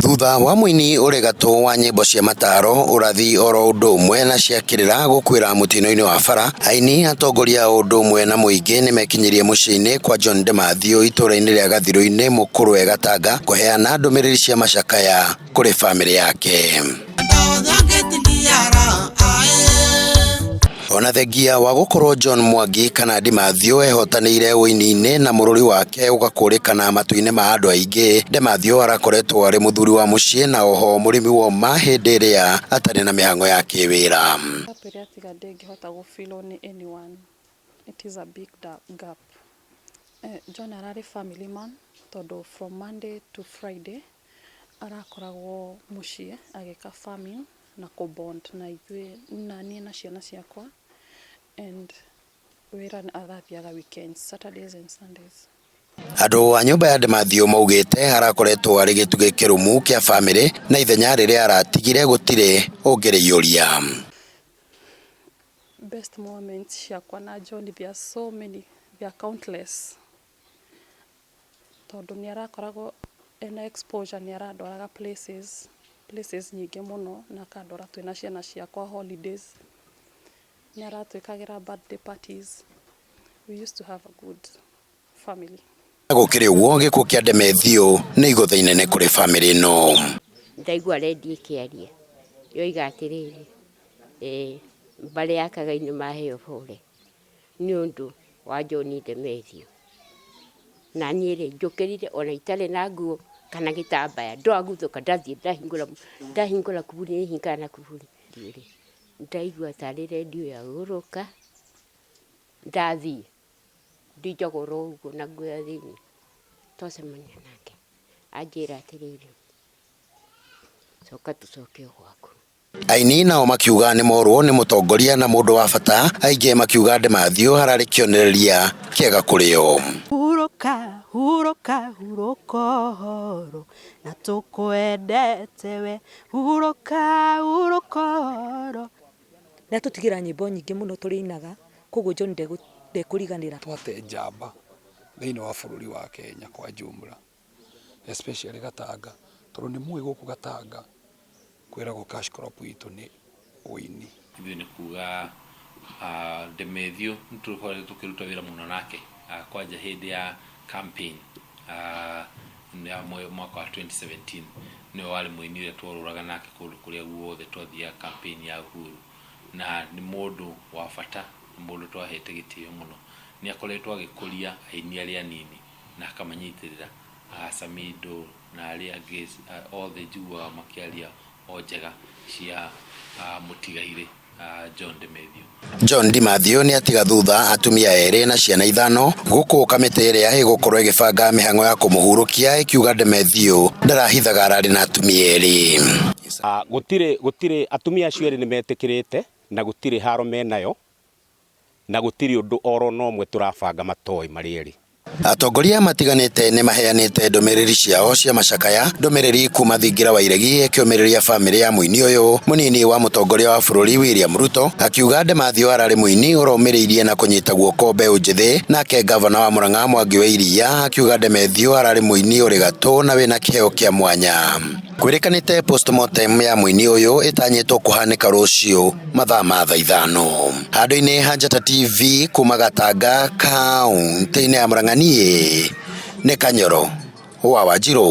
Thutha wa mũini ũrĩ gatũ wa nyĩmbo cia mataro ũrathi oro ũndũ ũmwe na cia kĩrĩra gũkuĩra mũtino-inĩ wa bara, aini atongoria o ũndũ ũmwe na mũingĩ nĩ mekinyirie mũciĩ-inĩ kwa John Demathiũ itũra-inĩ rĩa Gathirũ-inĩ Mũkũrwe Gatanga kũheana ndũmĩrĩri cia macakaya kũrĩ bamĩrĩ yake. ona thengia wa gukorwo John Mwangi kana Ndimathio ehotanĩire ũini-inĩ na mũrũri wake ũgakũrĩkana matu-inĩ ma andũ aingĩ Ndimathio arakoretwo arĩ mũthuri wa mũciĩ na oho mũrĩmi wa ũma hĩndĩ ĩrĩa atarĩ na mĩhang'o ya kĩwĩra Atwĩre atiga ndĩngĩhota gũfilwo nĩ anyone. It is a big da- gap. Eh, John ararĩ family man tondũ from Monday to Friday arakoragwo mũciĩ agĩka farming na kũ bond na ithuĩ, na niĩ na ciana ciakwa and wĩra arathiaga weekends, Saturdays and Sundays. Andũ a nyũmba ya Demathio maugĩte arakoretwo arĩ gĩtugĩ kĩrũmu kĩa bamĩrĩ na ithenya rĩrĩa aratigire gũtirĩ ũngĩrĩiyũria. Best moments ciakwa na John there are so many, there are countless. tondũ nĩ arakoragwo ena exposure nĩ arandwaraga places, places nyingĩ mũno na akandwara twĩna ciana ciakwa holidays. Nĩ aratwĩkagĩra birthday parties. We used to have a good family. Na gũkĩrĩ ũguo gĩkuũ kĩa Demethio nĩ igũtha inene kũrĩ bamĩrĩ ĩno. Ndaigua redio ĩkĩaria yoiga atĩrĩrĩ, mbarĩ ya Kagai nĩ maheo bũre. nĩ ũndũ wa John Demetrio. Na niĩ rĩ, njũkĩrire ona itarĩ na nguo kana gĩtambaya, ndwaguthũka ndathiĩ ndahingũra ndahingũra kuburi nĩhingaga na kuburi. Ndiĩ rĩ, ndaigua tarĩ rendio yagũrũka, ndathiĩ ndĩ njogoro ũguo na nguo ya thĩiniĩ, twacemania nake anjĩra atĩrĩrĩ, coka tũcoke o gwaku. Aini nao makiuga nĩ morwo nĩ mũtongoria na mũndũ wa bata, aingĩ makiuga Ndemathio hararĩ kĩonereria kĩega kũrĩ o. Hurũka, hurũka, hurũka ũhoro, na tũkwendete we. Hurũka, hurũka ũhoro. Nĩ atũtigĩra nyĩmbo nyingĩ mũno tũrĩinaga, kwoguo John ndekũriganĩra. Twate njamba thĩinĩ wa bũrũri wa Kenya kwa jumla. especially Gatanga tondũ nĩ mũĩ gũkũ Gatanga kwĩragwo cash crop itũ nĩ ũini. Ithuĩ nĩ kuga Ndemethiũ nĩ tũkoretwo tũkĩruta wĩra mũno nake kwanja hĩndĩ ya campaign ya mwaka wa 2017 nĩwe warĩ mũini ũrĩa tworũraga nake kũndũ kũrĩa guothe twathiaga campaign ya Uhuru na nĩ mũndũ wa bata, nĩ mũndũ twahete gĩtĩo mũno. Nĩ akoretwo agĩkũria aini arĩa anini. na akamanyitĩrĩra Aasamido na arĩa angĩ ah, othe njiguaga makĩaria o njega cia ah, mũtigairĩ ah, John de Mathew John Di Mathew nĩ atiga thutha atumia erĩ na ciana ithano gũkũ kamĩtĩ ĩrĩa ĩgũkorwo ĩgĩbanga mĩhang'o ya kũmũhurũkia ĩkiuga De Mathew ndarahithaga ararĩ na atumia erĩ Ah, gũtirĩ gũtirĩ atumia acio erĩ nĩ metĩkĩrĩte na gũtirĩ haro menayo na gũtirĩ ũndũ o na ũmwe tũrabanga matoĩ marĩ erĩ. Atongoria matiganĩte nĩmaheanĩte ndũmĩrĩri ciao cia macakaya ndũmĩrĩri kuma thingira wa iregi ĩkĩũmĩrĩria bamĩrĩ ya mũini ũyũ mũnini wa mũtongoria wa bũrũri William Ruto akiuga Ndemathio ararĩ mũini ũromĩrĩirie na kũnyita guoko mbeũ njĩthĩ nake ngavana wa Murang'a Mwangi wa Iria akiuga Ndemethio ararĩ mũini ũrĩ gatũ na wĩna kĩheo kĩa mwanya. Kwĩrĩkanĩte postmortem ya mũini ũyũ ĩtanyĩtwo kũhanĩka rũciũ mathaa ma thaa ithano handũ-inĩ ha Njata TV kuma Gatanga kaũntĩ-inĩ ya Murang'a niĩ nĩ Kanyoro wa Wanjirũ.